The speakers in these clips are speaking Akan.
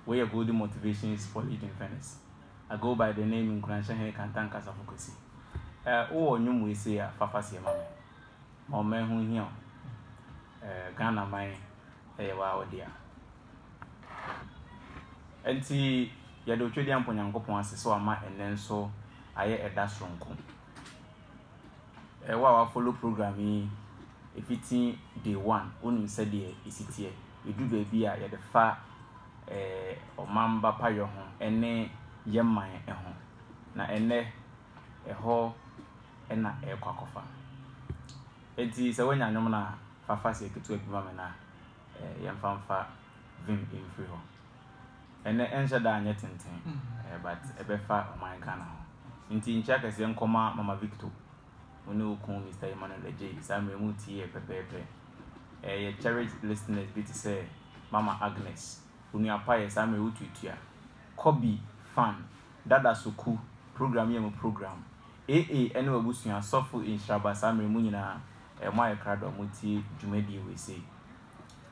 Wei yɛ Goldie Motivation is for Leading Venice. I go by the name Nkuranhyɛ Hene Kantan Kasafo Kwesi. Eh, wo wɔ nnwom wei sei a, fa fa seɛ ma me. Ma ɔman ho nhia wo. Eh, Ghana man yɛ waa wo dea. Enti, yɛde Otwedeampɔ Nyankopɔn ase sɛ wama ɛnnɛ nso ayɛ ɛda soronko. Wo a wa follow program yi ɛfiti day one, wo nim sɛdeɛ ɛsi teɛ. Ɛduru baabi a yɛde fa ɔmanba payɔ ho ɛne yɛ man ɛho. Na ɛnɛ ɛhɔ ɛna ɛrekɔ akɔfa. Ɛnti sɛ wanya nwom no a fa faseɛ ketewa bi ma me na yɛmfa mfa vim mfiri hɔ. Ɛnɛ ɛnhyɛ da nyɛ tenten eh, but ɛbɛfa ɔman Ghana ho. Nti nkyia kɛseɛ nkɔma Mama Victo, wo ne wo kun Mister Emmanuel Adjei, saa mmerɛ yi mo tie yɛ pɛpɛɛpɛ. Eh, yɛ cherished listeners bi te sɛ Mama Agnes, Onua Payɛ, saa mmerɛ yi wo tuatua, Kɔbi, Fan, Dada Soku, program yɛ mo program, AA ɛne w'abusua, Sɔfo Nhyiraba, saa mmerɛ yi mo nyinaa eh, mo ayɛ krado a mo tie dwumadie wei sei.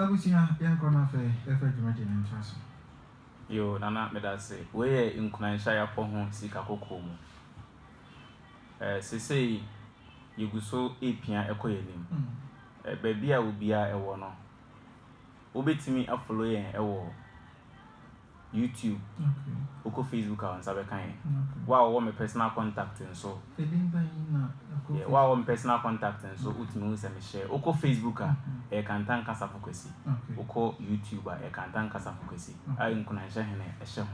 Abusua yɛnkɔ na afei yɛfa dwumadi no ntoa so. Yoo Nana medase. Wei yɛ nkuranhyɛ a yɛapɔ ho sika kɔkɔɔ mu. Eh, seesei yɛgu so repia kɔ yɛn anim. Eh, baabi a obiara wɔ no. wobɛtumi a follow yɛn wɔ YouTube, wokɔ Facebook a wo nsa bɛka yɛn. Wo a wɔwɔ me personal contact nso, yeah, wo a wɔwɔ me personal contact nso, wotumi hu sɛ me share. Wokɔ Facebook a, ɛyɛ Kantan Kasafo Kwesi. Wokɔ YouTube a, ɛyɛ Kantan Kasafo Kwesi a Nkunanhyɛ Hene hyɛ ho.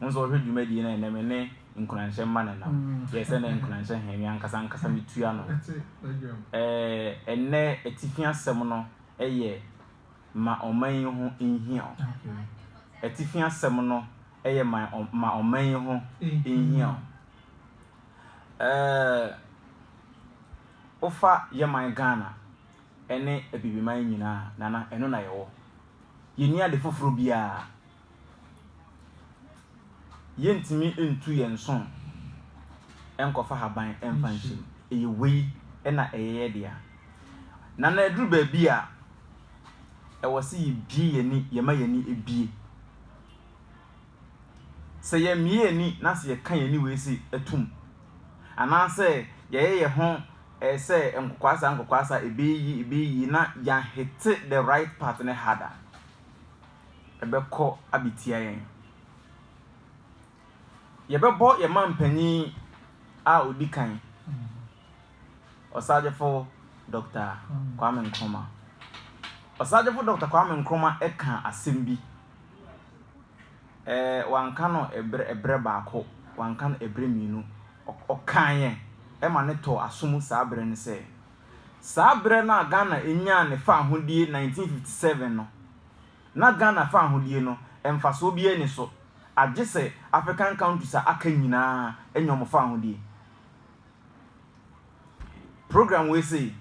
Wo nso wɔhwɛ dwumadie no ɛnɛ me ne Nkunanhyɛ mma no nam. Yɛ sɛ na Nkunanhyɛ Hene me ankasa ankasa metua no. Ɛɛ ɛnɛ atifi asɛm no. yɛ Ma Ɔman Yi Ho Nhia Wo. Atifi asɛm no yɛ Ma Ɔman Yi Ho Nhia Wo. Ɛɛ, wofa yɛ man Ghana ne Abibiman nyinaa a, Nana, ɛno na yɛwɔ. Yɛnni ade foforɔ biara. Yɛntumi ntu yɛn nso nkɔfa haban mfa nhyɛ mu. Ɛyɛ wei na ɛyɛ yɛn dea. Na na ɛduru baabi a ɛwɔ sɛ yɛbue yɛn ani, yɛma yɛn ani bue. Sɛ yɛmmue yɛn ani na sɛ yɛka yɛn ani wei se atum anaasɛ yɛyɛ yɛn ho sɛ nkokwaasa nkokwaasa, ɛbɛyɛ yie ɛbɛyɛ yie na yɛanhete the right part no hard a, ɛbɛkɔ abɛtia yɛn. Yɛbɛbɔ yɛn manpanin a ɔdi kan, Ɔsagyefo Dɔkta Kwame Nkrumah. Ɔsagyefo Dɔkta Kwame Nkrumah ka asɛm bi. Ɛɛ wanka no ɛbrɛ ɛbrɛ baako, wanka no ɛbrɛ mmienu. Ɔkaeɛ ɛma ne tɔɔ asom saa berɛ no sɛ, saa berɛ no a Ghana nyaa ne faahodie 1957 no, na Ghana fahodie no mfasoɔ biara nni so agye sɛ African countries a aka nyinaa anya wɔn fahodie. Program wei sei,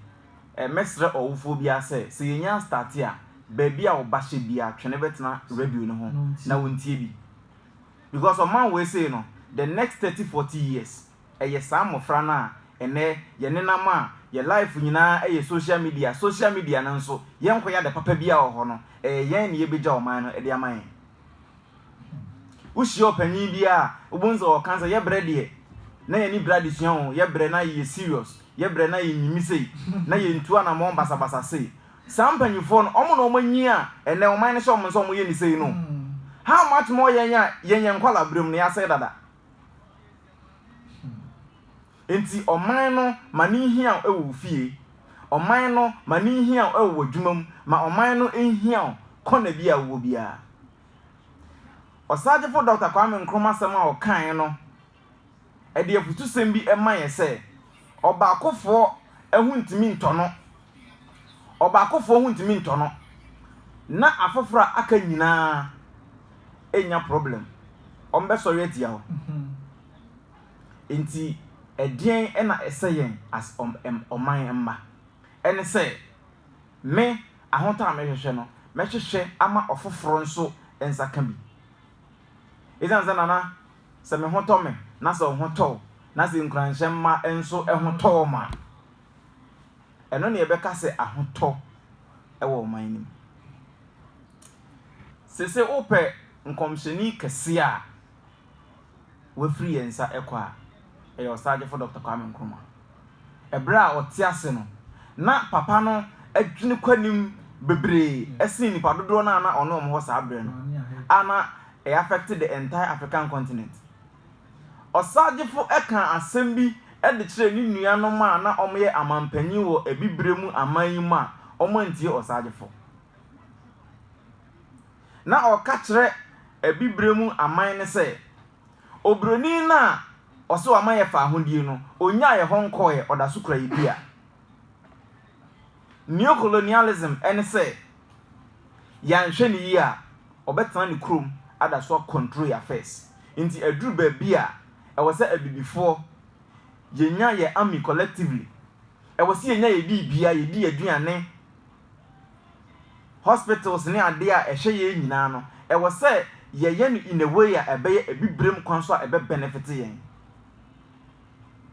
mɛsrɛ ɔwofoɔ biara sɛ, sɛ yɛnya starte a, baabi a wo ba hyɛ biara twe no bɛtena radio no ho na wɔntie bi. Because ɔman wei sei no, the next thirty, forty years, Ɛyɛ saa mmɔfra no a ɛnnɛ yɛn nenam a yɛn life nyinaa yɛ social media, social media no nso yɛnkɔyɛ ade papa biara wɔ hɔ no, ɛyɛ yɛn na yɛbɛgya ɔman no de ama yɛn. Wohyia ɔpanyin bi a wobɛhu sɛ ɔka sɛ yɛbrɛ deɛ na yɛne bra adesua o, yɛbrɛ na yɛyɛ serious, yɛbrɛ na yɛnyimi sei, na yɛntu anamɔn basabasa sei. Saa mpanyifoɔ no, wɔn na wɔanyin a ɛnnɛ ɔman no hyɛ wɔn sɛ wɔnyɛ ne sei no. How much more yɛn a yɛn yɛ nkwadaa berɛm no, yɛasɛe dada. Enti ɔman no ma no nhia wo wɔ wo fie, ɔman no ma no nhia wo wɔ w'adwuma mu, ma ɔman no nhia wo kɔna bi a wowɔ biara. Ɔsaagyefo Dɔkta Kwame Nkrumah asɛm a ɔkae no de afotusɛm bi ma yɛn sɛ, Ɔbaakofoɔ ho ntumi ntɔ no, ɔbaakofoɔ ho ntumi ntɔ no, na afoforɔ a aka nyinaa nnya problem, wɔbɛsɔre atia wo. Enti ɛdeɛn na ɛsɛ yɛn as ɔman mma? Ɛne sɛ, me ahotɔ a mehwehwɛ no, mɛhwehwɛ ama ɔfoforɔ nso nsa ka bi. Ɛsiane sɛ Nana, sɛ me ho tɔ me na sɛ wo ho tɔ wo, na sɛ nkuranhyɛ mma nso ho tɔ wɔn a, ɛno na yɛbɛka sɛ ahotɔ wɔ ɔman no mu. Seesei wopɛ nkɔmhyɛni kɛseɛ a wafiri yɛn nsa kɔ a, ɛyɛ Ɔsaagyefo Dɔkta Kwame Nkrumah. Ɛberɛ a ɔte ase no, na papa no adwene kɔ anim bebree sen nnipa dodoɔ no a na ɔne wɔn wɔ saa berɛ no, a na ɛyɛ affect the entire African continent. Ɔsagyefo kaa asɛm bi de kyerɛɛ ne nuanom a na wɔyɛ amampanyin wɔ Abibirem aman yi mu a wɔantie ɔsagyefo. Ná ɔreka kyerɛ Abibirem aman no sɛ, Oburoni no a ɔse wama yɛn fahodie no, ɔnnyaa yɛn hɔ nkɔeɛ, ɔda so kura yɛn dua. Neocolonialism ne sɛ Yɛanhwɛ no yie a, ɔbɛtena ne kurom ada so akɔntro yɛn affairs. Nti aduru baabi a, ɛwɔ sɛ Abibifoɔ, yɛnya yɛn army collectively. Ɛwɔ sɛ yɛnya yɛn biribia, yɛdi yɛn aduane, hospitals ne adeɛ a ɛhwɛ yɛn nyinaa no, ɛwɔ sɛ yɛyɛ no in a way a ɛbɛyɛ Abibirem kwan so a ɛbɛ benefit yɛn.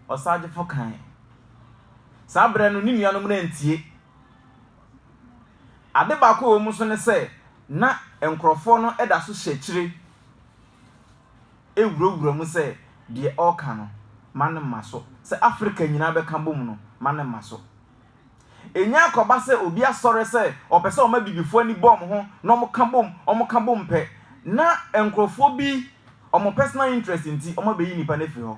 Ɔsaagyefo kaeɛ. Saa berɛ no, ne nuanom no antie. Ade baako a ɛwɔ mu nso ne sɛ, na nkurɔfoɔ no da so hyɛ akyire wurawura mu sɛ deɛ ɔreka no, mma no mma so. Sɛ Afrika nyinaa bɛka bom no, mma no mma so. Ɛnya akɔba sɛ obi asɔre sɛ ɔpɛ sɛ ɔma Abibifoɔ ani bɔ wɔn ho na wɔka bom, wɔka bom pɛ na nkurɔfoɔ bi wɔn personal interest nti wɔabɛyi nipa no afiri hɔ.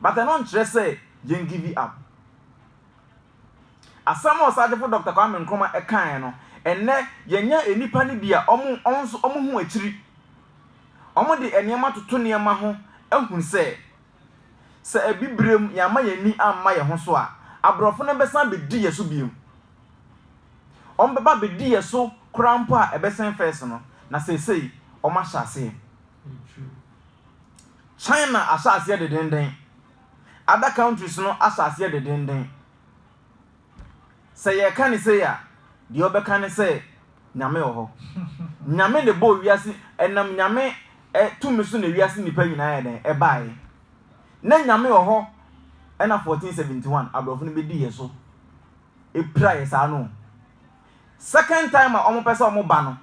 But ɛno nkyerɛ sɛ yɛn give up. Asɛm a Ɔsaagyefo Dɔkta Kwame Nkrumah kaeɛ no, ɛnnɛ yɛnya nnipa no bi a wɔn nso wɔn ho akyiri. Wɔde nneɛma toto nneɛma ho ahu sɛ, sɛ Abibirem yɛamma yɛn ani amma yɛn ho so a, aborɔfo no bɛsan abɛdi yɛn so bio. Wɔbɛba abɛdi yɛn so koraa mpo a ɛbɛsen first no, na seesei wɔahyɛ aseɛ. China asase yɛ dedenden. Other countries no asase yɛ dedenden. Sɛ yɛka ne sei a, deɛ ɔbɛka ne sɛ nyame wɔ hɔ. Nyame na ɛbɔɔ wiase, ɛnam nyame tumi so na wiase nnipa nyinaa yɛ dɛn ɛbaeɛ. Na nyame wɔ hɔ ɛna 1471 aborɔfo no bɛdii yɛ so, ɛpira yɛ saa no. Second time a wɔpɛ sɛ wɔba no,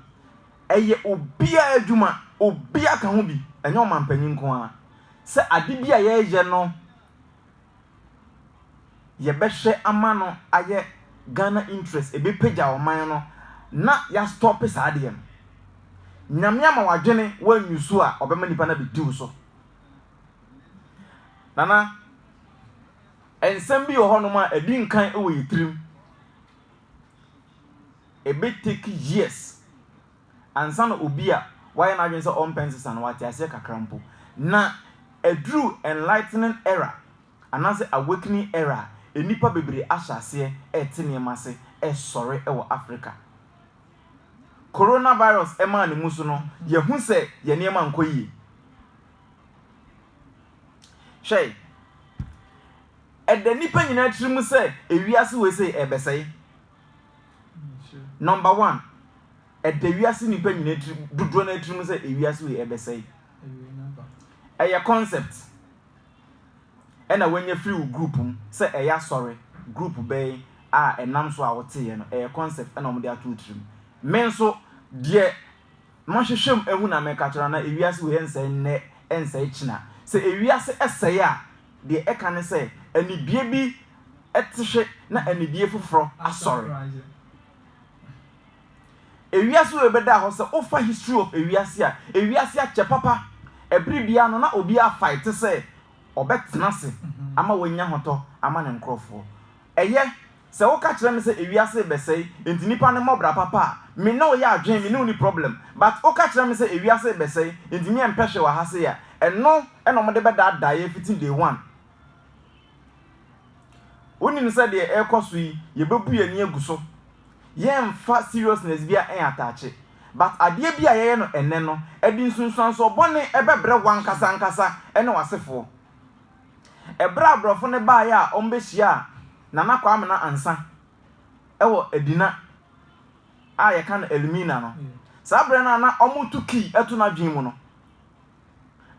ɛyɛ obiara adwuma, obiara ka ho bi, ɛnyɛ ɔmanpanyin nko ara. Sɛ ade bi a yɛreyɛ no yɛbɛhwɛ ama no ayɛ Ghana interest, ɛbɛpagya ɔman no na yɛastɔpe saa adeɛ no. Nyame ama w'adwene woanyu so a ɔbɛma nnipa no abɛdi wo so. Nana, nsɛm bi wɔ hɔnom a ɛdi nkan wɔ yɛn tirim. Ɛbɛ take years ansa na obi a wayɛ n'adwene sɛ ɔmpɛ nsesa no wate aseɛ kakra mpo. Na ɛduru enlightening era anaasɛ awakening era a, nnipa bebree ahyɛ aseɛ rete nneɛma ase resɔre wɔ Africa. Coronavirus maa ne mu so no, yɛahu sɛ yɛn nneɛma nkɔ yie. Hwɛ! Ɛda nnipa nyinaa tirim sɛ wiase wei sei ɛrebɛsɛe. Number one, ɛda wiase nnipa nyinaa tirim dodoɔ no tirim sɛ wiase wei ɛrebɛsɛe. Ɛyɛ concept. Ɛna wanya firi wo group mu sɛ ɛyɛ asɔre group bɛn a ɛnam so a woteeɛ no ɛyɛ concept ɛna wɔde ato wo tirim. Me nso deɛ Monhwehwɛm ahu na meka kyerɛ na ewiase wei ɛnsɛe nnɛ ɛnsɛe kyena. Sɛ ewiase ɛsɛe a deɛ ɛka ne sɛ anibie bi ɛtehwe na anibie foforɔ asɔre. Ewiase wei bɛda hɔ sɛ wofa history of ewiase a ewiase akyɛ papa ɛbere biara no na obiara fight sɛ ɔbɛtena ase ama wanya hotɔ ama ne nkorɔfoɔ. Ɛyɛ Sɛ woka kyerɛ me sɛ ewiase rebɛsɛe enti nipa no mmɔ bra papa a, me ne wo yɛ adwene, me ne wo nni problem. But woka kyerɛ me sɛ ewiase rebɛsɛe enti me ɛmpɛ hwee wɔ ha sei a, ɛno na wɔde bɛdaadaa yɛn fiti day one. Wonim sɛ deɛ ɛrekɔ so yi, yɛbɛbu yɛn ani agu so. Yɛremfa seriousness biara nnataakye. But adeɛ bi a yɛyɛ no ɛnnɛ no, ɛde nsunsuansoɔ bɔne bɛbrɛ wo ankasa ankasa ne w'asefoɔ. Ɛberɛ a aborɔfo no baeɛ a wɔbɛhyiaa Nana Kwamena Ansah wɔ Adina a yɛka no Elmina no, saa berɛ no a na wɔreto key to n'adwene mu no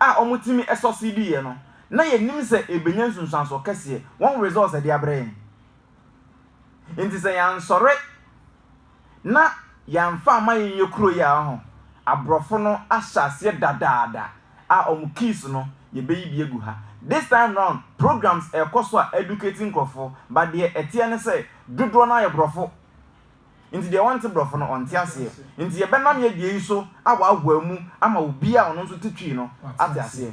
a wɔtumi sɔseediiɛ no, na yɛnim sɛ ɛrebɛnya nsunsuansoɔ kɛseɛ, wɔn results de abrɛ yɛn. Enti sɛ yɛansɔre na yɛamfa amma yɛnyɛ kuro yi a, ɔho, aborɔfo no ahyɛ aseɛ dadaada a wɔn keys no yɛbɛyi bi agu ha. This time round programs ɛrekɔ so a educate nkorɔfoɔ but deɛ ɛteɛ ne sɛ dodoɔ no ara yɛ borɔfo nti deɛ ɔnte borɔfo no ɔnte aseɛ nti yɛbɛnam yɛ deɛ yi so ahoahoa mu ama obiara a ɔno nso te Twi no ate aseɛ.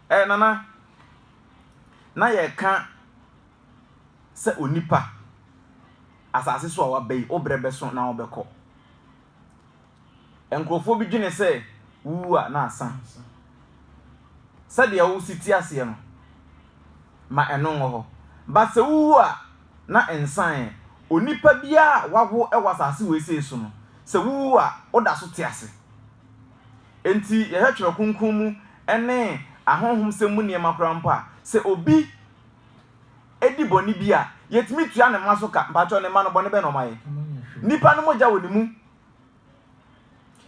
Ɛɛ Nana, na yɛreka sɛ onipa, asase so a waba yi, wo berɛ bɛso na wobɛkɔ. Nkurɔfoɔ bi dwene sɛ wowu a na asa. Sɛdeɛ wo si te aseɛ no, ma ɛno nwɔ hɔ. But sɛ wowu a, na nsaeɛ. Onipa biara a wawo wɔ asase wei sei so no, sɛ wowu a, woda so te ase. Enti, yɛhwɛ Twerɛ Kronkron mu ne ahonhomsɛm mu nneɛma koraa mpo a, sɛ obi di bɔne bi a, yɛtumi tua ne mma so ka. Mpakyɛw, ne mma no, bɔne bɛn na wɔayɛ? Nnipa no mogya wɔ ne mu.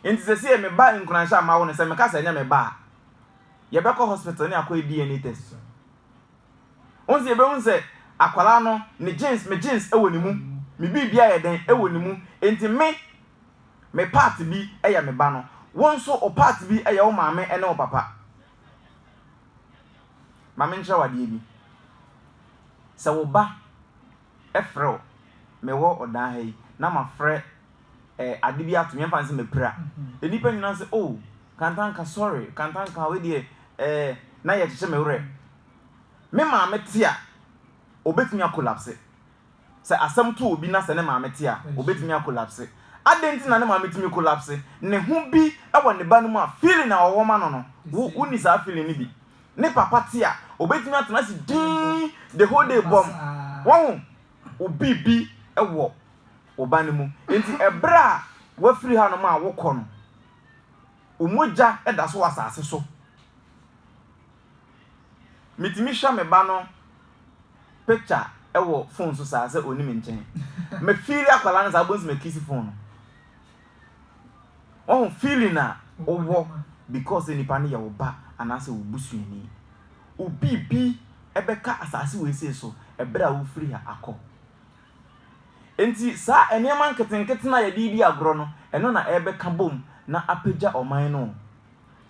Enti sɛ sei yɛ me ba nkuranhyɛ a mawo no, sɛ meka sɛ ɛnyɛ me ba a, yɛbɛkɔ hospital ne akɔyɛ DNA test. Wohu sɛ yɛbɛhu sɛ akwadaa no, ne genes, me genes wɔ ne mu, me biribiara yɛ dɛn wɔ ne mu. Enti me, Me part bi yɛ me ba no. Wo nso wo part bi yɛ wo maame ne wo papa. Ma menkyerɛ wo adeɛ bi. Sɛ wo ba frɛ wo, mewɔ ɔdan ha yi na mafrɛ eh, ade bi ato me, yɛmfa no sɛ mapira. Nnipa nyinaa sɛ, oh, Kantanka, sorry, Kantanka, wei deɛ eh, na yɛkyekyɛ me werɛ. Me maame te a, ɔbɛtumi akolapse. Sɛ asɛm to obi na sɛ ne maame te a, obetumi akolapse. Adɛn nti na ne maame tumi kolapse? Ne ho bi wɔ ne ba no mu a feeling a ɔwɔ ma no no, wo wonni saa feeling no bi. Ne papa te a, obetumi atena ase dinn the whole day bɔmm. Wahu? Wo biribi wɔ wo ba no mu. Enti bere a wafiri hanom a wokɔ no, wo mogya da so wɔ asase so. Metumi hwɛ me ba no picture ɛwɔ phone so saa sɛ ɔni me nkyɛn. Me feeli akwadaa no saa bɛhu sɛ me kiss phone no. Wɔhu feeling a wowɔ because sɛ nipa no yɛ wo ba anaasɛ wo busuani. Obi bi ɛbɛka asase wei sei so ɛberɛ a wofiri ha akɔ. Enti saa nneɛma nketenkete no a yɛde redi agorɔ no, ɛno na ɛrebɛka bom na apagya ɔman no o.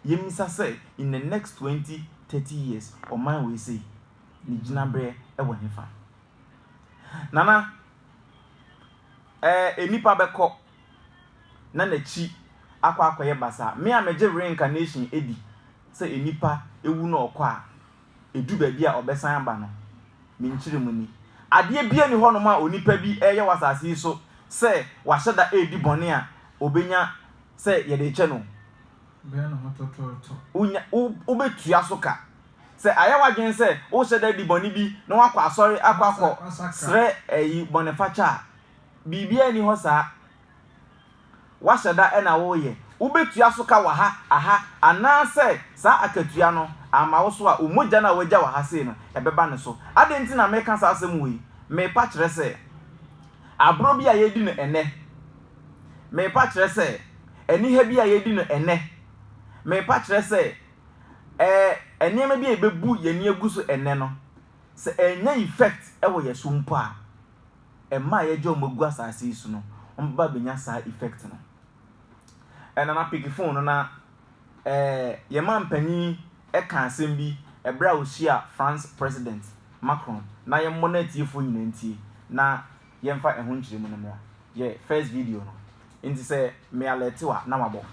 yɛmmisa sɛ in the next twenty, thirty years ɔman wei sei ne gyinaberɛ wɔ hefa? Nana, ɛɛ nnipa bɛkɔ na n'akyi akɔ akɔyɛ basaa. Me a megye reincarnation di sɛ nnipa wu na ɔkɔ a ɛdu baabi a ɔbɛsan aba no, me nkyerɛmu ni. Adeɛ biara nni hɔnom a onipa bi reyɛ wɔ asase yi so sɛ wahyɛ da redi bɔne a ɔbɛnya sɛ yɛde rekyɛ no. Bɛyɛ ne ho tɔtɔɔtɔ. Wonya, wo, wobɛtua so ka. Sɛ ayɛ w'adwene sɛ wohyɛ da di bɔne bi na woakɔ asɔre akɔ akɔ srɛ ayi bɔnefakyɛ a, biribiara nni hɔ saa. Woahyɛ da na woreyɛ. Wobɛtua so ka wɔ ha, aha, anaasɛ saa akatua no amma wo so a, wo mogya no a woagya wɔ ha sei no, ɛbɛba ne so. Adɛn nti na mereka saa asɛm wei? Merepa kyerɛ sɛ, agorɔ bi a yɛredi no ɛnnɛ, Meepa kyerɛ sɛ, aniha bi a yɛredi no ɛnnɛ. Meepa kyerɛ sɛ, ɛɛ, nneɛma bi a yɛbɛbu yɛn ani agu so ɛnnɛ no, sɛ ɛnnya effect wɔ yɛn so mpo a, mma a yɛagya wɔn agu asase yi so no, wɔbɛba abɛnya saa effect no. Ɛna na pick phone no na ɛɛ, yɛn mampanyin ka asɛm bi ɛberɛ a ɔhyia France President Macron, na yɛmmɔ na atiefoɔ nyinaa ntie, na yɛmfa ɛho nkyerɛmu no mmɔ. Yɛ first video no. Nti sɛ me alert wo a na wabɔ.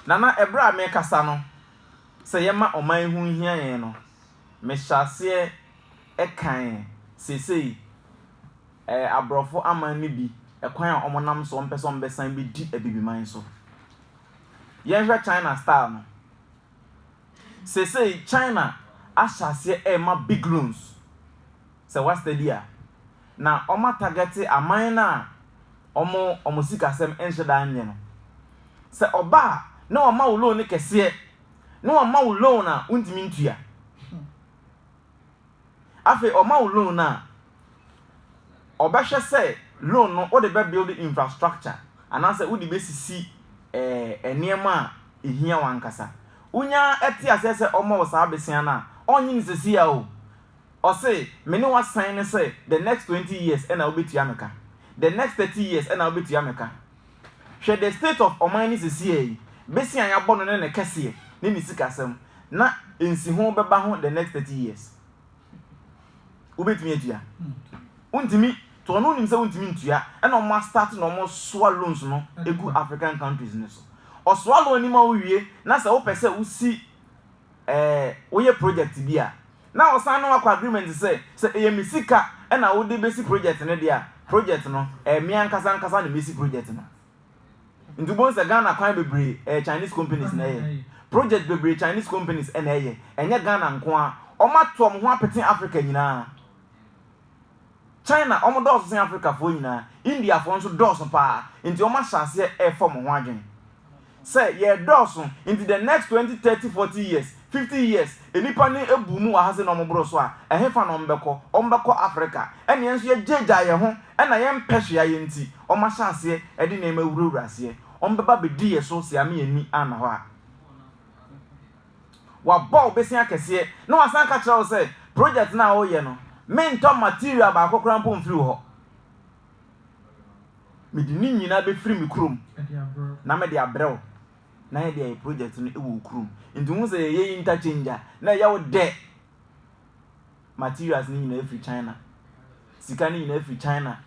Nana ɛberɛ a mekasa no sɛ yɛma ɔman ho hia yɛn no mehyɛ aseɛ ɛkan seesei ɛɛ aborɔfo aman no bi ɛkwan a wɔn nam soɔ mpɛ sɛ wɔn bɛsan bɛdi abibiman so. Yɛnhwɛ China style no Seesei China ahyɛ aseɛ rema big loans, sɛ woa study a, na wɔn a targete aman no a wɔn wɔn sikasɛm nhyɛ da nyɛ no. Sɛ ɔba a na wɔma wo loan no kɛseɛ, na wɔma wo loan a wontumi ntua. Afei ɔma wo loan no a, ɔbɛhwɛ sɛ loan no wode bɛ build infrastructure anaasɛ wode bɛsisi eh, nneɛma a ɛhia wankasa. Wonya ɛte aseɛ sɛ ɔma wo saa besia no a, ɔnye no sesia o. Ɔse, me ne wasan ne sɛ the next 20 years ɛna wobɛtua me ka. The next 30 years ɛna wobɛtua me ka. Hwɛ the state of ɔman no sesiei, bese a yɛabɔ no ne ne kɛseɛ ne ne sikasɛm na nsiho bɛba ho the next thirty years. Wobɛtumi atua? Wontumi, to ɔno wonim sɛ wontumi ntua ɛna ɔmo astart na ɔmo soa loans no egu African countries no so. Ɔsoa loan no ma wowie na sɛ wopɛ sɛ wosi Ɛɛ, woyɛ project bi a, na wɔsan ne wo akɔ agreement sɛ, sɛ ɛyɛ me sika na wode bɛsi project no deɛ a, project no, ɛyɛ me ankasa ankasa na mɛsi project no. Nti wobɛhu sɛ Ghana kwan bebree, ɛyɛ Chinese companies na ɛyɛ. Project bebree Chinese companies na ɛyɛ, ɛnyɛ Ghana nko ara. Wɔato wɔn ho apete Africa nyinaa. China wɔn dɔɔso sen Afrikafoɔ nyinaa, Indiafoɔ nso dɔɔso paa nti wɔn ahyɛ aseɛ refɔ mo ho adwene sɛ yɛɛ dɔɔso nti the next twenty, thirty, forty years, fifty years nnipa no abu mu wɔ ha sei na wɔn boro so a ɛhefa na wɔn bɛkɔ? Wɔn bɛkɔ Afrika ɛna yɛn nso yɛagyaagyaa yɛn ho ɛna yɛn mpɛ hwee ayɛ nti wɔn ahyɛ aseɛ de nneɛma awurawura aseɛ wɔn bɛba abɛdi yɛn so sɛ yɛame yɛn ani anna hɔ a. W'abɔ wo besia kɛseɛ na w'asan ka kyerɛ wo sɛ project no a wo yɛ no me ntɔ material baako koraa mpo mfiri wo hɔ. Me de ne nyinaa bɛ firi me kurom na me de abrɛ wo na yɛ de ayɛ project no wɔ wo kurom. Nti wohu sɛ yɛ yɛ interchange a na ɛyɛ wo dɛ. Materials no nyinaa firi China. Sika no nyinaa firi China.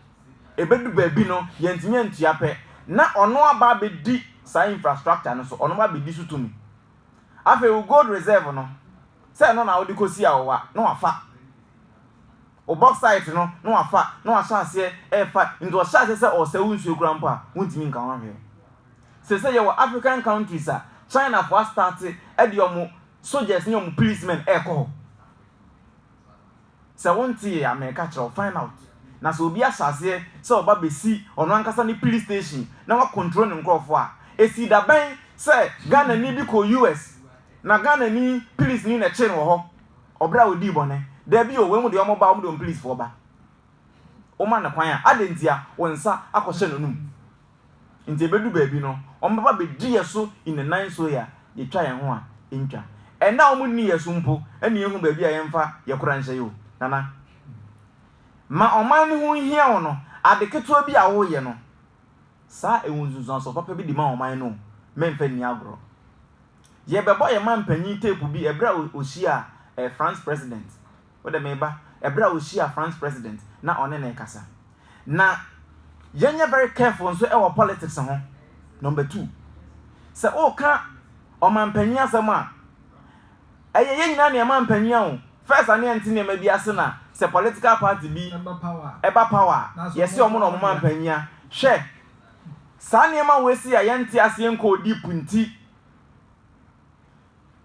Ɛbɛdu baabi no yɛ ntumi antua pɛ na ɔno aba abɛdi saa infrastructure no so, ɔno ba abɛdi so tumi. Afei wo gold reserve no, sɛ ɛno na wode kɔsi awowa na wafa. Wo bauxite no na wafa na wahyɛ aseɛ ɛrefa nti ɔhyɛ aseɛ sɛ ɔresɛ wo nsuo koraa mpo a, wontumi nka ho hwee. Seesei yɛwɔ African countries a Chinafoɔ astarte de wɔn soldiers ne wɔn policemen ɛrekɔ hɔ. Sɛ wontee a, mereka kyerɛ wo, find out. Na sɛ obi ahyɛ aseɛ sɛ ɔba bɛsi ɔno ankasa ne police station na wacontrol ne nkorɔfoɔ a, ɛsii da bɛn sɛ Ghanani bi kɔɔ US na Ghanani policeni na ɛkyee no wɔ hɔ ɔberɛ a ɔdii bɔne? Daabi o, wei mu deɛ wɔba a, wɔde wɔn policefoɔ ba. Woma no kwan a, adɛn ntia wo nsa akɔhyɛ n'anum? Nti ebedu baabi no wɔbɛba abedi yɛ so nnanan so yi a yetwa yɛn ho a entwa. Ɛnna a wɔnni yɛ so mpo na yehu baabi a yɛmfa yɛ kora nhyɛ yi o, Nana. Ma ɔman no ho nhia wo no, ade ketewa bi a woreyɛ no, saa ɛwɔ nsunsuansoɔ papa bi de ma ɔman no o, memmfa nni agorɔ. Yɛbɛbɔ yɛn mampanyin tape bi ɛberɛ a ɔhyiaa France President. Wode meba ɛberɛ a ɔhyiaa France president na ɔne no rekasa. Na yɛnyɛ very careful nso wɔ politics ho. Number two, sɛ woka ɔmanpanyin asɛm a, ɛyɛ yɛn nyinaa na yɛ manpanyin a o. First a na yɛnte nneɛma bi ase na sɛ political party bi ɛba power a, yɛse wɔn na wɔn manpanyin a. Hwɛ saa nneɛma wei sei a yɛnte aseɛ nkɔɔ deep nti.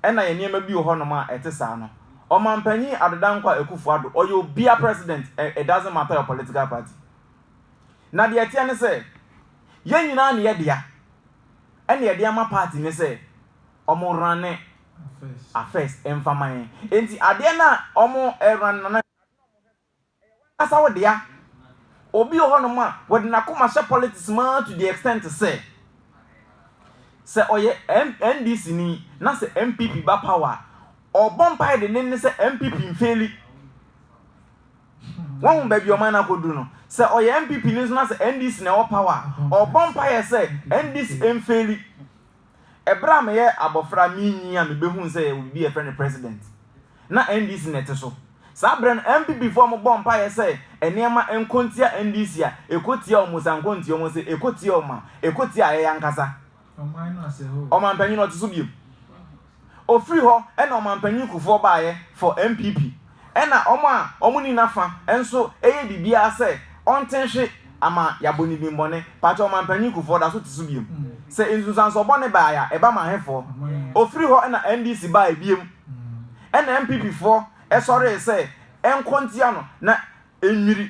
Ɛna yɛ nneɛma bi wɔ hɔ nom a ɛte saa no. Ɔmanpanyin Adodankwa Akufo Addo, ɔyɛ obia president, it doesn't matter your political party. Na deɛ ɛteɛ ne sɛ, yɛn nyinaa ne yɛ dea, ɛna yɛde ama party no sɛ ɔmo runne affairs mfa ma yɛn. Enti adeɛ no a ɔmo run no na. W'ankasa wo dea. Obi wɔ hɔ nom a wɔde n'akoma hyɛ politics mu ara to the extent sɛ, sɛ ɔyɛ NDC ni na sɛ NPP ba power a, ɔbɔ mpaeɛ dennenne sɛ NPP mfeeli. Wahu baabi ɔman no akɔduru no. Sɛ ɔyɛ NPP ni nso na sɛ NDC na ɛwɔ power a, ɔbɔ mpaeɛ sɛ NDC mfeeli. Ɛberɛ a meyɛ abɔfra menyin a mebɛhuu sɛ yɛwɔ biribi a yɛfrɛ no President. Na NDC na ɛte so. Saa berɛ no NPP foɔ mo bɔɔ mpaeɛ sɛ nneɛma nkɔ ntia NDC a ɛkɔ tia wɔn saa nkɔ ntia wɔn sɛ ɛkɔ tia wɔn a ɛkɔ tia ayɛyɛ ankasa. Ɔmanpanyin ɔte so biom. Ɔfiri hɔ na Ɔmanpanyin Kufuor baeɛ for NPP. Ɛna wɔn a wɔn nni n'afa nso yɛ biribiara sɛ ɔnte nhwe ama yɛabɔ no din bɔne. Pakyɛw Ɔmanpanyin Kufuor da so te so biom? Sɛ nsunsuansoɔ bɔne bae a ɛba ma hefoɔ? Ɔfiri hɔ na NDC bae biom. Ɛna NPP foɔ sɔree sɛ ɛnkɔ ntia no na ɛnnwiri.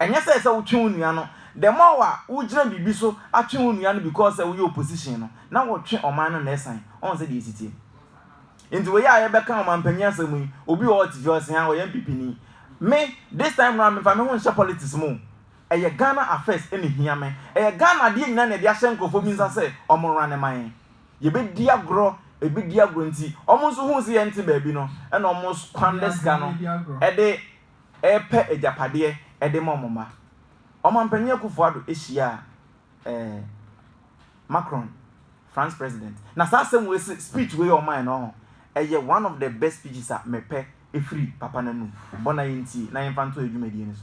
Ɛnyɛ sɛ sɛ wotwe wo nua no, the more a wogyina biribi so atwe wo nua no because sɛ woyɛ opposition no, na wotwe ɔman no na ɛsan. Ɔn sɛdeɛ ɛsi teɛ. Nti wei a yɛbɛka ɔmanpanyin asɛm yi, obi wɔ hɔ ɔte fie ɔse haa ɔyɛ NPP ni. Me, this time round memfa me ho nhyɛ politics mu o. Ɛyɛ Ghana affairs na ɛhia me. Ɛyɛ Ghana adeɛ nyinaa na yɛde ahyɛ nkorɔfoɔ bi nsa sɛ wɔn runne ma yɛn. Yɛbɛdi agorɔ, ɛbɛdi agorɔ nti wɔn nso huu sɛ yɛnte baabi no na wɔn squander sika no de repɛ agyapadeɛ de ma wɔn mma. Ɔmanpanin Akuffo Addo hyiaa eh, Macron, France president. Na saa asɛm wei se speech wei ɔmae no ɔho, ɛyɛ one of the best speeches a mepɛ ɛfiri papa no anum. Bɔ na yɛntie na yɛmfa nto yɛn dwumadie no so.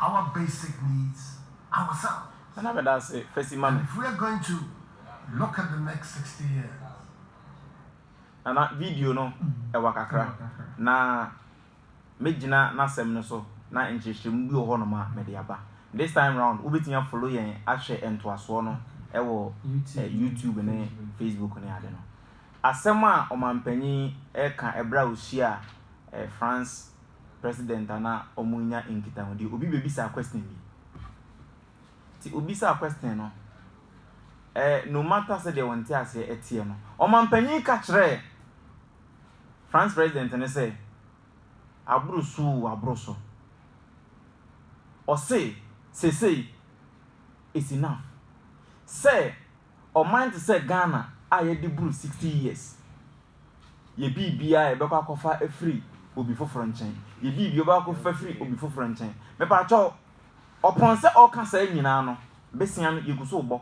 Our basic needs ourselves. Ɛna me da ase fa si ma me. And if we are going to look at the next sixty years. Nana video no ɛwa kakra na me gyina n'asɛm no so na nkyerɛkyerɛmu bi wɔ hɔ nom a me de aba. This time round wo betumi a follow yɛn ahwɛ ntoasoɔ no ɛwɔ YouTube ne Facebook ne ade no. Asɛm a ɔmanpanyin ɛka ɛberɛ a ɔhyia France president a na ɔmo nya nkitahodie obi bɛ bisa question bi ti obi sa question no eh, no matter sɛ deɛ wɔn ti aseɛ ɛteɛ no ɔma mpanyin ka kyerɛ France president no sɛ aboro so o aboro so ɔse sesei it's enough sɛ ɔman te sɛ Ghana a yɛadi boro 60 years yɛ biribiara a yɛbɛkɔ akɔfa afiri obi foforɔ nkyɛn, yɛ biribiara yɛbɛkɔ akɔfa afiri obi foforɔ nkyɛn. Mepatwɔ, ɔpɔn sɛ ɔka saa nyinaa no, besia no yɛgu so rebɔ.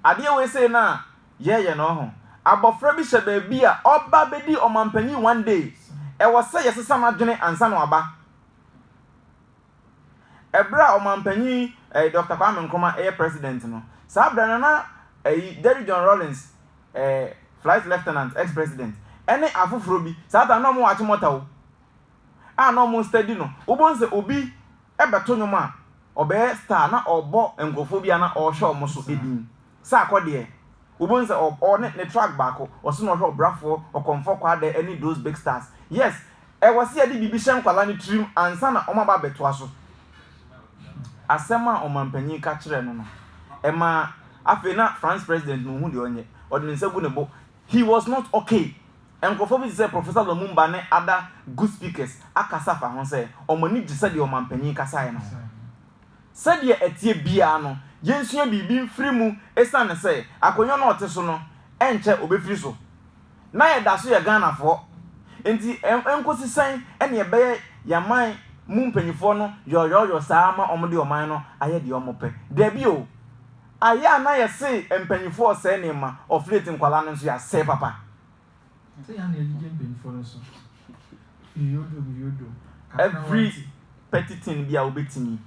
Adeɛ wei sei no a yɛyɛ no ɔho, abɔfra bi hyɛ baabi a ɔba bɛdi ɔmanpanyin one day, ɛwɔ sɛ yɛsesa n'adwene ansa na waba. Ɛberɛ a Ɔmanpanyin Dɔkta Kwame Nkrumah ɛyɛ President no, saa berɛ no na ɛyi Derrick John Rawlings ɛɛ Flight Lieutenant, ex President, ɛne afoforɔ bi, saa time no na wɔn Achimota o, a na wɔn study no, wobɛhu sɛ obi ɛbɛto nnwom a, ɔbɛyɛ star na ɔrebɔ nkorɔfoɔ bi a na ɔrehwɛ wɔn so din. Sɛ akɔ deɛ, wobɛhu no sɛ ɔwɔ ne ne track baako, ɔse na ɔhwɛ ɔbrafoɔ, ɔkɔmfoɔ kwaadɛ ɛne those big stars. Yes, ɛwɔ sɛ yɛde biribi hyɛ nkwadaa no tirim ansa na wɔn aba abɛtoa so. Asɛm a ɔmanpanyin ka kyerɛɛ no no, ɛmaa afei na France president no nhu deɛ ɔnyɛ, ɔde ne nsa gu ne bo. He was not okay. Nkorɔfoɔ bi te sɛ Professor Lumumba ne other good speakers akasa afa ho sɛ wɔn ani gye sɛdeɛ ɔmanpanyin kasaeɛ no ho. Sɛdeɛ ɛteɛ biara no, yɛnsua biribi mfiri mu ɛsiane sɛ akonnwa no a ɔte so no, ɛnkyɛ ɔbɛfiri so. Na yɛda so yɛ Ghanafoɔ. Enti ɛnkɔsi sɛn na yɛbɛyɛ yɛn aman mu mpanimfoɔ no yɔɔyɔɔyɔ saa ara ma wɔde ɔman no ayɛ deɛ wɔpɛ? Dabi o! Ayɛ a na yɛse mpanimfoɔ resɛe nneɛma, ɔflate nkwadaa no nso yɛasɛe papa. Every petty thing bi a wobɛtumi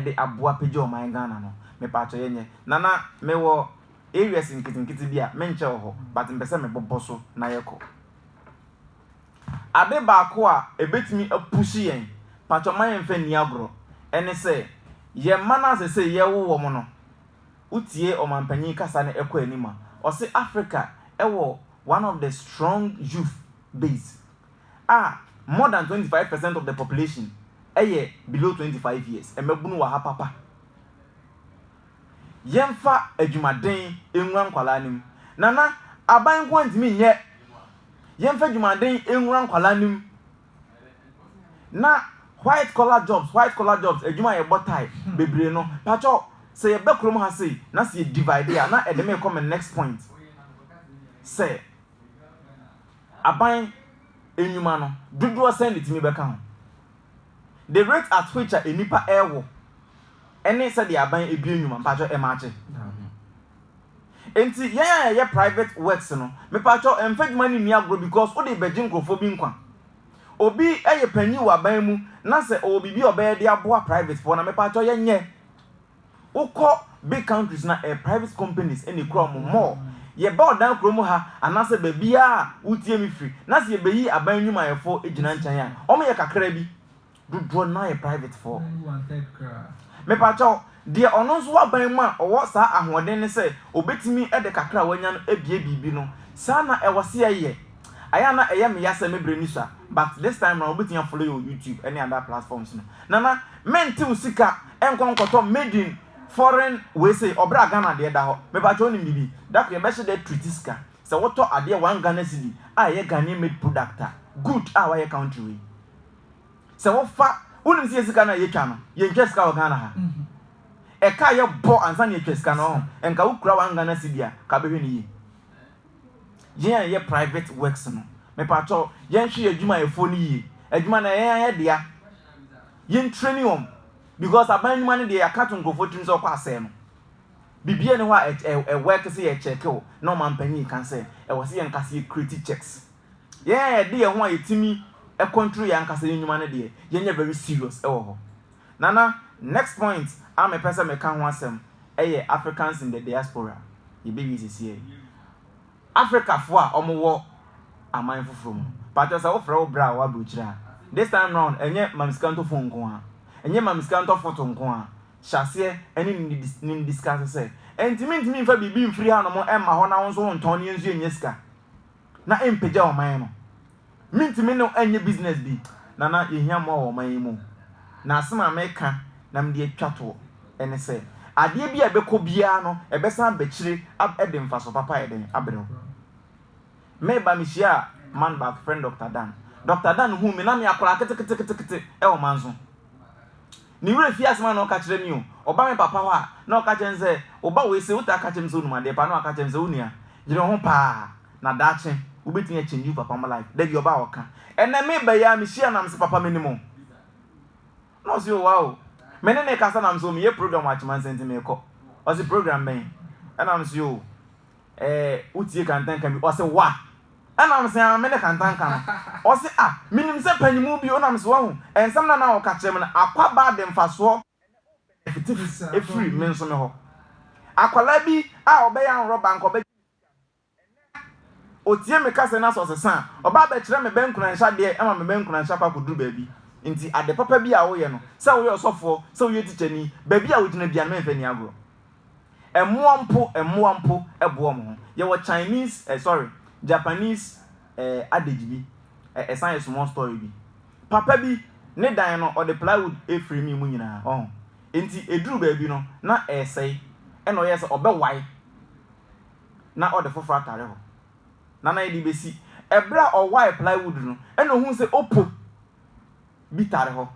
de aboa pagya ɔman Ghana no mepatwɔ yɛnyɛ. Nana mewɔ areas nketenkete bi a menkyɛ wɔ hɔ but mpɛ sɛ mebobɔ so na yɛkɔ. Ade baako a ɛbɛtumi a push yɛn, patwɔ ma yɛnfa nni agorɔ, ɛne sɛ yɛn mma no a sɛsɛi yɛrewo wɔn no wo tie ɔmanpanyin kasa no ɛkɔ anim a, ɔse Africa ɛwɔ one of the strong youth base a more than twenty five percent of the population ɛyɛ below twenty five years, mmabunu wɔ ha papa. Yɛnfa adwumaden nwura nkwadaa no mu. Nana, aban nko ara ntumi nyɛ. Yɛnfa adwumaden nwura nkwadaa no mu. na white collar jobs white collar jobs adwuma a yɛbɔ tae bebree no pakyɛw sɛ yɛba kurom ha sei na sɛ yɛ divide a na ɛde me kɔ me next point sɛ aban nnwuma no dodoɔ sɛn na ɛtumi bɛka ho the rate at which a nnipa ɛrewo ɛne sɛdeɛ aban ebie nnwuma pakyɛw ɛmaakye. Enti yɛn a yɛyɛ private works no, mepakyɛw mfa adwuma no nni agorɔ because wode rebɛgye nkurɔfoɔ bi nkwa. Obi yɛ panyin wɔ aban mu na sɛ ɔwɔ biribi a ɔbɛyɛ de aboa private foɔ no a, mepakyɛw yɛnyɛ. Wokɔ big countries no a, ɛyɛ private companies na ɛkura wɔn more. Yɛba ɔdan kurom ha anaasɛ baabiara a wotie me firi na sɛ yɛbɛyi aban nnwumayɛfoɔ gyina nkyɛn a, wɔyɛ kakra bi. dodoɔ no ara yɛ privatefoɔ. Mepa kyɛw, deɛ ɔno nso w'aban mu a ɔwɔ saa ahoɔden no sɛ ɔbɛtumi de kakra a w'anya no abue biribi no, saa na ɛwɔ se ɛyɛ. Ayɛ a na ɛyɛ me ya sɛ me berɛ nni so a, but this time round wobɛtumi a follow yɛ wɔ YouTube ɛne other platforms no. Nana, mentew sika nkɔ nkɔtɔ made in foreign wei sei, ɔbrɛ a Ghana deɛ da hɔ. Mepa kyɛw wonim biribi? Da koro yɛbɛhyɛ da atreat sika. Sɛ wotɔ adeɛ one Ghana cedi a ɛyɛ Ghanaian made product a, good a w'ayɛ country wei. Sɛ wofa, wonim sɛ yɛ sika no a yɛtwa no, yɛntwa sika wɔ Ghana ha. Ɛka a yɛbɔ ansa na yɛtwa sika no ɔho, nka wokura one Ghana cedi a, ka bɛhwɛ no yie. Yɛn a yɛyɛ private works no, mepakyɛw, yɛnhwɛ yɛn adwumayɛfoɔ no yie. Adwuma no ɛyɛ yɛn ayɛ dea. Yɛntrɛni wɔn. Because aban nnwuma no deɛ yɛaka to nkurɔfoɔ tirim sɛ ɔkɔ asɛe no. Biribiara ni hɔ a ɛwɛke sɛ yɛkyɛke wo na ɔmanpanyin ka sɛ ɛwɔ sɛ yɛn nka sɛ yɛkreti checks. Yɛn a yɛde yɛn ho a yɛtumi control yɛn ankasa yɛn nnwuma no deɛ, yɛnyɛ very serious wɔ hɔ. Nana, next point a mepɛ sɛ meka ho asɛm yɛ Africans in the diaspora. Yɛbɛwie sesiɛ yi. Africafo a wɔwɔ aman foforɔ mu no, pakyɛ sɛ wofrɛ wo bra a ɔwɔ aburokyire a, this time round ɛnyɛ mamsikantɔ phone nko ara, ɛnyɛ mamsikantɔ photo nko ara, hyɛ aseɛ ne no discuss sɛ, ɛntumi ntumi mfa biribi mfiri hanom mma hɔ na wo nso wontɔn na yɛn nso yɛnnya sika. na ɛmpagya ɔman no. Mentumi ne wo ɛnyɛ business bi, Nana yɛhia mmoa wɔ ɔman yi mu. Na asɛm a meka na mede atwa toɔ ne sɛ, adeɛ bi a ɛbɛkɔ biara no ɛbɛsan aba akyire ab de mfasoɔ papa ayɛ dɛn abrɛ wo. Meba mehyiaa man baako yɛfrɛ no Doctor Dan. Doctor Dan huu me na meyɛ akwadaa keteketekete wɔ manso. Me werɛ fii asɛm a na ɔka kyerɛ me o. Ɔba me papa hɔ a, na ɔka kyerɛ no sɛ, Wo ba wei se wotaa ka kyerɛ me sɛ onim adeɛ paa, na waka kyerɛ me sɛ, Onua, dwene wo ho paa, na daakye wobɛtumi a change wo papa mo life. Da bi ɔba a ɔka. Ɛnnɛ meba yi ara mehyia no na mese, Papa menim wo. Na ɔse, Oh, wow. Me ne no rekasa na mese, Oh, meyɛ program wɔ Akyemansɛn nti merekɔ. Ɔse, Program bɛn? Ɛna mese, Oh. eh, wotie kantanka bi, ɔse wa? Ɛnam se ah, mene kantanka no. Ɔse ah, menim sɛ panimu bi, onam se wahu, nsɛm na na ɔka kyerɛ me no, akwaba de mfasoɔ ɛfiti efiri me nso me hɔ. Akwadaa bi a ɔbɛyɛ anrɔba anka ɔbɛgye otie me kasa na sɛ ɔsesa a ɔba abɛkyerɛ me bɛnkunanhyɛ adeɛ ɛma me bɛnkunanhyɛ akɔ akɔduru baabi nti ade papa bi a woyɛ no sɛ woyɛ ɔsɔfoɔ sɛ woyɛ tikyani baabi a wogyina bia no mɛmfa ni agorɔ Mmoa mpo, mmoa mpo boa wɔn ho. Yɛwɔ Chinese, eh, sorry, Japanese eh, adage bi, eh, ɛsan yɛ small story bi. Papa bi, ne dan no, ɔde plywood firimii mu nyinaa, ɔho. Enti, ɛduru baabi no, na ɛresɛe. Ɛna ɔyɛɛ sɛ ɔbɛwae na ɔde foforɔ atare hɔ. Na na yɛde bɛsi. Ɛberɛ a ɔwae plywood no, ɛna ɔhuu sɛ opo bi tare hɔ.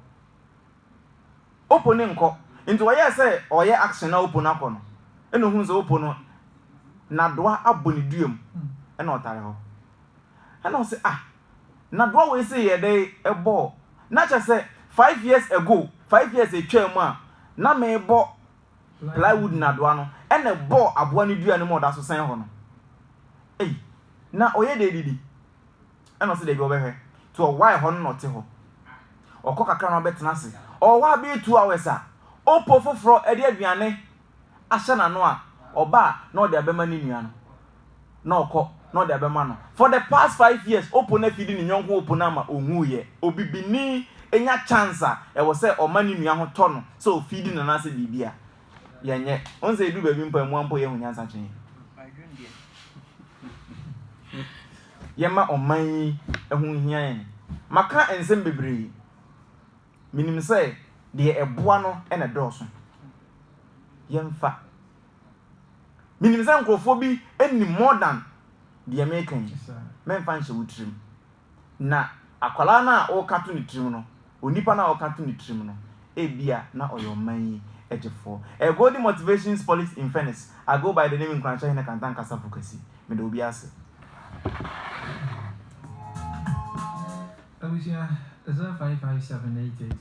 Opo no nkɔ. Ntsi ɔyɛɛ sɛ ɔreyɛ action na Opo no akɔ no, nna ohun sɛ Opo no n'adowa abɔ ne dua mu, nna ɔtare hɔ. Nna ɔse, Ah, n'adowa wei se yɛɛ dɛ bɔɔ, na kyerɛ sɛ five years ago, five years etwaa mu a, na mebɔ plywood n'adowa no, nna ebɔɔ abowa no dua no mu a ɔda so sɛn hɔ no. Ei, na ɔyɛ dɛ edidi. Ɛna ɔse dabi ɔbɛhwɛ nti ɔwae hɔ no na ɔte hɔ ɔkɔ kakra na ɔbɛtena ase ɔwɔ hɔ abɛyɛ two hours a opo foforɔ de aduane ahyɛ n'ano a ɔba a na ɔde abɛma ne nua no na ɔkɔ na ɔde abɛma no for the past five years opo no afidi ne nyɔnko opo no ama ɔhuiɛ obibini nya chance a ɛwɔ sɛ ɔma ne nua ho tɔ no sɛ ɔfidi no anaasɛ biribi a yɛnyɛ ɔn sɛ ɛduru baabi mpo a mmoa mpo yɛhu nyansa kyɛn yɛma ɔman yi ɛho hia yɛn. Maka nsɛm bebree. Menim sɛ deɛ ɛboa no na ɛdɔɔso. Yɛmfa. Menim sɛ nkurɔfoɔ bi nim more than deɛ meka yi. Mɛmfa nhyɛ wo tirim. Na akwadaa no a woka to ne tirim no, onipa no a ɔka to ne tirim no, ebia na ɔyɛ ɔman yi gyefoɔ. A Golden Motivations Police in Phoenix, I go by the name Nkuranhyɛ Hene Kanta Nkasa Fukasi. Meda obi ase. Abusua, 055788.